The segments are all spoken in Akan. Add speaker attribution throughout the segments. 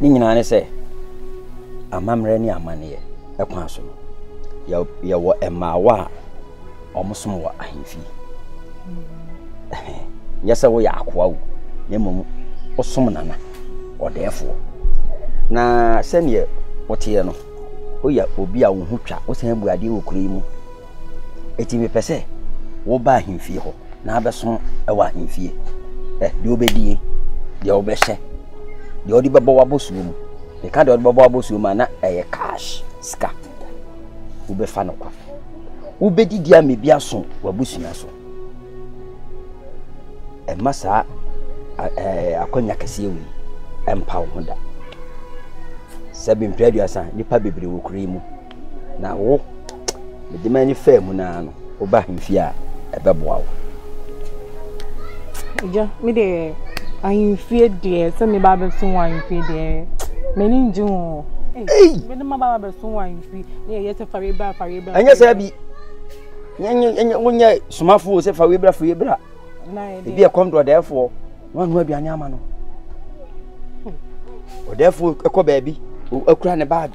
Speaker 1: Ne nyinaa ne sɛ, amammerɛ ne amanneɛ kwan so no, yɛwɔ mmaawa a wɔsom wɔ ahemfie. Nyɛ sɛ woyɛ akoa o, na mmom wosom nana, ɔdɛɛfoɔ. Na sɛdeɛ woteɛ no, woyɛ obi a wo ho twa, wosan bu adeɛ wɔ kuro yi mu. Eti mepɛ sɛ woba ahemfie hɔ na abɛso wɔ ahemfie. Hwɛ, deɛ wobɛdie, deɛ wobɛhyɛ, deɛ wode bɛbɔ w'abɔsuo mu. Meka deɛ wode bɛbɔ w'abɔsuo mu a na ɛyɛ cash sika. Wobɛfa no kwa. Wobɛdidi a mebi aso w'abusua so. Ɛma saa akwanya kɛseɛ wei ɛmpa wo ho da. Sɛ bempere aduasa, nipa bebree wɔ kuro yi mu. Na wo, mede m'ani faa mu naa no, woba ahemfie a, ɛbɛboa wo.
Speaker 2: Agya, me deɛ ahemfie deɛ sɛ meba abɛso wɔ ahemfie deɛ m'ani ngye ho. Mede ma ba abɛso wɔ ahemfie na yɛyɛ sɛ fa wei
Speaker 1: bra fa wei bra. Ɛnyɛ sɛ bi wonyɛ somafoɔ sɛ fa wei bra fa wei bra. Ebi
Speaker 2: ɛkɔm do ɔdɛɛfoɔ
Speaker 1: na wanoa aduane ama no. Ɔdɛɛfoɔ ɛkɔ baabi akura ne baage.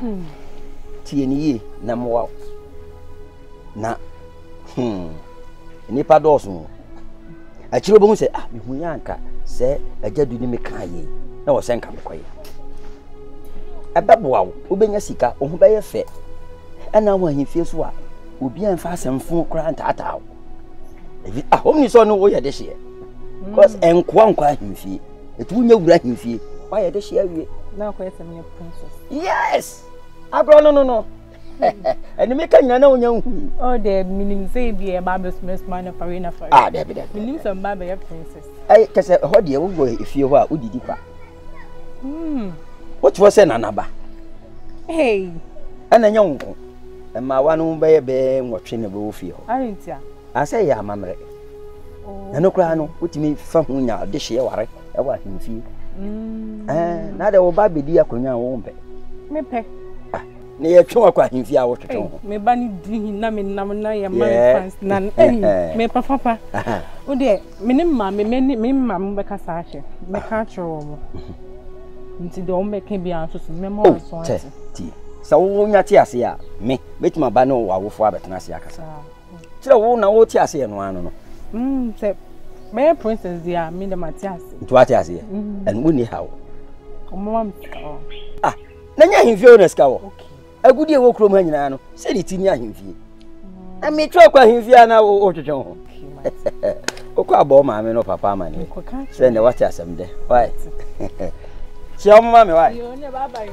Speaker 1: Hmm. Tie no yie na mmoa wo. Na hmm, nnipa dɔɔso o. Akyire wobɛhu sɛ ah mehu yɛ anka sɛ agya du ne me kaa yie na wɔ sɛ nka mekɔyɛ. Ɛbɛboa wo, wobɛnya sika, wo ho bɛyɛ fɛ. Ɛna wɔ ahemfie so a obi a mfa asɛmfo koraa ntaataa wo. Ahom ni sɛ ɔno woyɛ de hyeɛ. Because ɛnkoa nkɔ ahemfie. Nti wonya wura ahemfie. Woayɛ de hye awie. Na akɔyɛ sɛ meyɛ
Speaker 2: princess. Yes!
Speaker 1: Agorɔ no no no. Ɛne meka nyina na wonya nhu. Oh, dɛ menim
Speaker 2: sɛ ebi a ɛba abɛsumasuma na fare na fare. Ah, daabi daabi. Menim
Speaker 1: sɛ mba bɛyɛ
Speaker 2: princess. Ɛyɛ kɛ sɛ ɛhɔ
Speaker 1: deɛ wowɔ efie hɔ a wodidi kwa. Hmm. Wote hɔ sɛ nanaba. Hey!
Speaker 2: Ɛna nyɛ
Speaker 1: wo nko. Mmaawa no bɛyɛ bɛɛ nwɔtwe na ɛbɛwɔ fie hɔ. Arentia. Asɛe
Speaker 2: yɛ amammerɛ.
Speaker 1: Ɛno koraa no, wotumi fa ho nya dehyeɛ ware wɔ ahemfie. Mm. Ɛɛ, na de wo ba bɛdi akonnwa a wɔn mpɛ. Mepɛ.
Speaker 2: Ah, na yɛtwe
Speaker 1: wakɔ ahemfie a wotwetwe ho. Me ba ne duru hin
Speaker 2: na menam na yɛ mari fans na ɛyi me papa pa. Wo deɛ me ne mma me me ne me mma mo bɛka saa hwɛ. Mɛka akyerɛ wɔn. Mm-hmm. Nti deɛ wɔn bɛka bi ara nso so mɛma wɔn aso oh, ate. Sɛ
Speaker 1: wonya te ase a me mɛtumi aba ne wɔ awofo abɛtena ase akasa. Kyerɛ wo na wote aseɛ no ano no. Mm, sɛ
Speaker 2: mɛyɛ princess deɛ a me dɛ mate aseɛ. Nti wate aseɛ? Mm-hmm.
Speaker 1: Ɛno wonni ha o. Ɔmoma
Speaker 2: me sika wɔ. Ah,
Speaker 1: na nyɛ ahemfie o na sika wɔ. Agudie wɔ kurom ha nyinaa no, sɛ de ti ne ahemfie. Mm. Na metwerɛ kɔ ahemfie a na wotwetwe ho. Wokɔ abɔ maame no papa ama ne. Sɛ ne wate asɛm dɛ. Why? Kyia ɔmoma me why?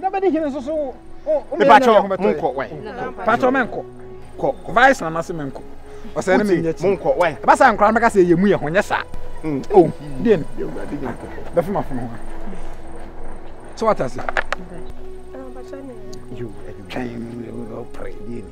Speaker 3: na bɛde hene nso so mepakyɛ monkɔ wae pakyɛ menkɔ kɔ vice na nase menkɔ ɔsɛ ne menyɛ kyi monkɔ wae ɛba saa nkora mɛka sɛ ɛyɛ mu yɛ ho nyɛ saa mm. o oh, deɛ no bɛfem afono ho so wata ase twɛn ɔpere deɛ ni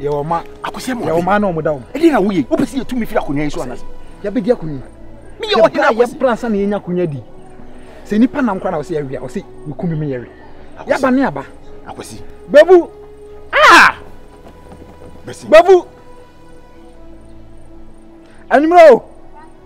Speaker 3: yɛwɔ mma akosɛm yɛwɔ mma na wɔda wɔn ɛdeɛ na woyɛ wopɛ sɛ yɛtumi firi akonnwa yi so anase yɛbɛdi akonnwa meyɛ ɔde na yɛbra ansa na yɛnya akonnwa di sɛ nnipa nam kora na ɔsɛ yɛwea ɔsɛ meku me meyɛwe yɛaba ne aba akwasi babu ah babu anwummerɛ o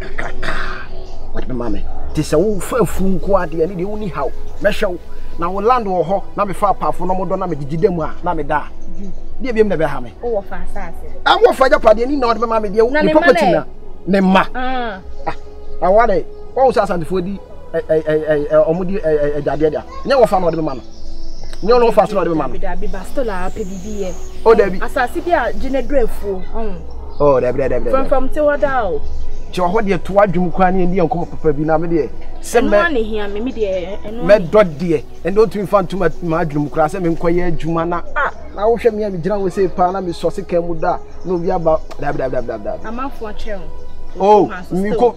Speaker 3: kakraka a wɔde bɛma me nti sɛ wofa afunu nko ara deɛ ɛno deɛ wonni haw mɛhwɛ wo na wo land wɔ hɔ na mefa apaafo na wɔdɔ na megyegye da mu a na meda a deɛ biam na ɛbɛha me ɛwɔ
Speaker 2: fa agyapadeɛ
Speaker 3: ne na wɔde bɛma me deɛ ne property na ne mma ah. ah, awɔ dɛ wɔn sɛ asantefoɔ di ɔmo di agyadeɛ da nyɛ wɔfa na ɔde bɛma no nyɛ ɔno wɔfa so na ɔde bɛma no. dabi bastɔ na apɛ
Speaker 2: bibi yɛ. o dabi asase
Speaker 3: bi a gye ne
Speaker 2: dura afuo. o
Speaker 3: dabi dabi dabi. fɛnfɛn ti hɔ daa
Speaker 2: o. ti ɔhɔ deɛ to
Speaker 3: adwom kwan ne ɛni yɛn kɔmɔ papa bi na mi deɛ. sɛ mɛ ɛnu ani hia mi mi deɛ
Speaker 2: ɛnu ani. mɛ dɔ deɛ
Speaker 3: ɛnu otumi fa ntoma ma adwom kura sɛ mi nkɔ yɛ adwuma na a na wohwɛ mi a mi gyina wo se paa na mi sɔ se kan mu da na obi aba dabi dabi dabi dabi. amanfo
Speaker 2: akyerɛ o. o
Speaker 3: mi ko.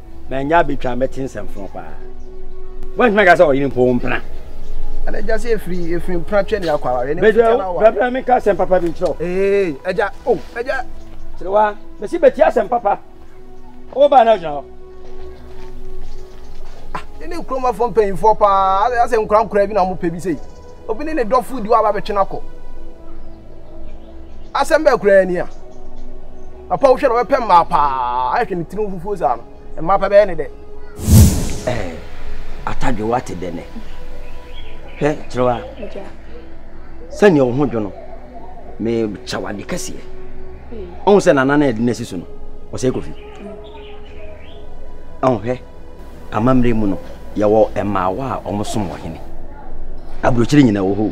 Speaker 3: manya
Speaker 1: abɛtwa mɛte nsɛmfoɔ paa woantumi aka sɛ ɔyere mpo wo mpena ɛna agya
Speaker 3: sɛ ɛfiri ɛfiri mpena twɛ ne akɔ awareɛ ne mfitwa no awa bɛbrɛ meka asɛm
Speaker 1: papa bi nkyerɛ ee agya o
Speaker 3: agya serewa
Speaker 1: mɛsi bɛti asɛm papa wobaa na agyina hɔ
Speaker 3: ah, ne ne nkuromafoɔ mpanyimfoɔ paa asɛ nkorankora bi na wɔpɛ bi sei obi ne ne dɔfo di hɔ a wabɛtwe no akɔ. Asɛm bɛɛ koraa ni a. Papa wohwɛ na wɔbɛpɛ mmaa paa ahwɛ ne tirim fufuo saa no. Mmaa pa bɛyɛ ne dɛ. Ɛɛ
Speaker 1: atadwe wate dɛ nɛ. Hwɛ kyerɛwa. Sɛnea wo ho dwo no mekyɛ wade kɛseɛ. Ɔhu sɛ nana no ɛde no asi so no ɔsɛ kofi. Hwɛ, amammerɛ mu no, yɛwɔ mmaawa a wɔsom wɔ hene. Aburokyire nyinaa wɔ hɔ o.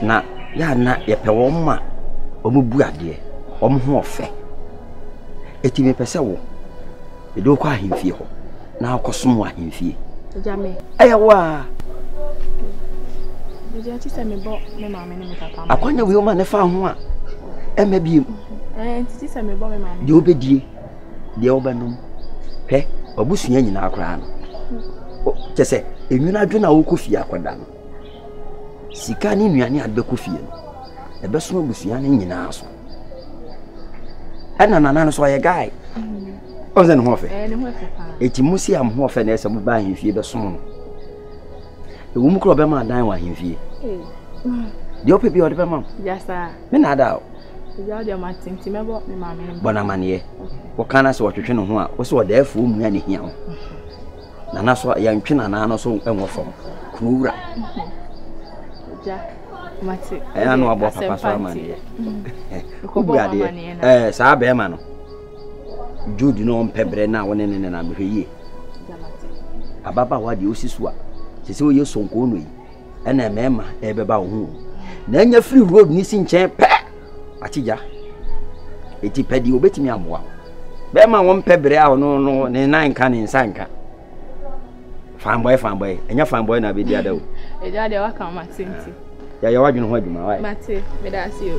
Speaker 1: Na yɛ a na yɛpɛ wɔn ma wɔn bu adeɛ, wɔn ho ɔfɛ. Eti mepɛ sɛ wo, mede wokɔ ahemfie hɔ na akɔsom wɔ ahemfie. Ɛyɛ
Speaker 2: wo a. Akwanya wei ma ne fa
Speaker 1: ho a ɛmɛ biem.
Speaker 2: Deɛ wobɛdie.
Speaker 1: deɛ wobɛnom hwɛ wabusua nyinaa koraa no kyɛ sɛ enwunu adwene a wokɔ fie akɔda no sika ne nnuane a bɛkɔ fie no ɛbɛso abusua no nyinaa so ɛna nana no so ɔyɛ guy ɔn sɛ ne ho ɔfɛ ɛti
Speaker 2: mo si a mo ho ɔfɛ
Speaker 1: na ɛsɛ mo ba ahemfie bɛsom no ɛwɔ mu kora ɔbɛma adan wɔ ahemfie deɛ ɔpɛ bi ɔde bɛma me na ada
Speaker 2: o Bɔ no amanneɛ.
Speaker 1: Woka no sɛ ɔtwetwe ne ho a, wo sɛ ɔdaafoɔ mmua ne hia ho. Nana so yɛntwe nana no so nwɔ fam. Kunu wura.
Speaker 2: Ɛyɛ na wabɔ papa
Speaker 1: so amanneɛ. Wobu adeɛ. Saa bɛrima no, Jude na ɔmpɛ berɛ no a wo ne ne nenam hwɛ yie. Ababaawa deɛ wosi so a, sɛ sɛ woyɛ sonkoo no yi. ɛna mmarima ɛrebɛba wo ho na anya firi road ne si nkyɛn pɛ akyigya ɛti pɛ deɛ wɔbɛtumi aboa wo bɛrima wɔn pɛ berɛ a ɔno no ne nan nka ne nsa nka fanbɔɛ fanbɔɛ ɛnyɛ fanbɔɛ na bɛdi ada o ɛgya deɛ waka
Speaker 2: ma tenti yɛyɛ wadwene ho
Speaker 1: adwuma wae mate meda ase o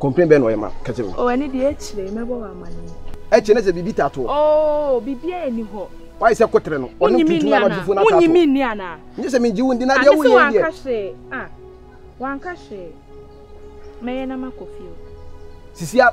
Speaker 2: Complain bɛn na ɔyɛ ma
Speaker 3: kɛse no? Oh ɛno deɛ akyire
Speaker 2: mɛbɔ wo amanneɛ. Akyire ne sɛ biribi taa
Speaker 3: to hɔ. Oh biribiara
Speaker 2: nni hɔ. Wayɛ sɛ koterɛ no ɔne
Speaker 3: wo tuntum na ɔde fo no ataa to hɔ. Wonyi me nni anaa?
Speaker 2: Nye sɛ mengye wo
Speaker 3: ndi na deɛ woyɛ yi deɛ. Ah mese
Speaker 2: wanka
Speaker 3: hwee
Speaker 2: ah
Speaker 3: wanka
Speaker 2: hwee
Speaker 4: mɛyɛ na makɔ fie o. Sisi a.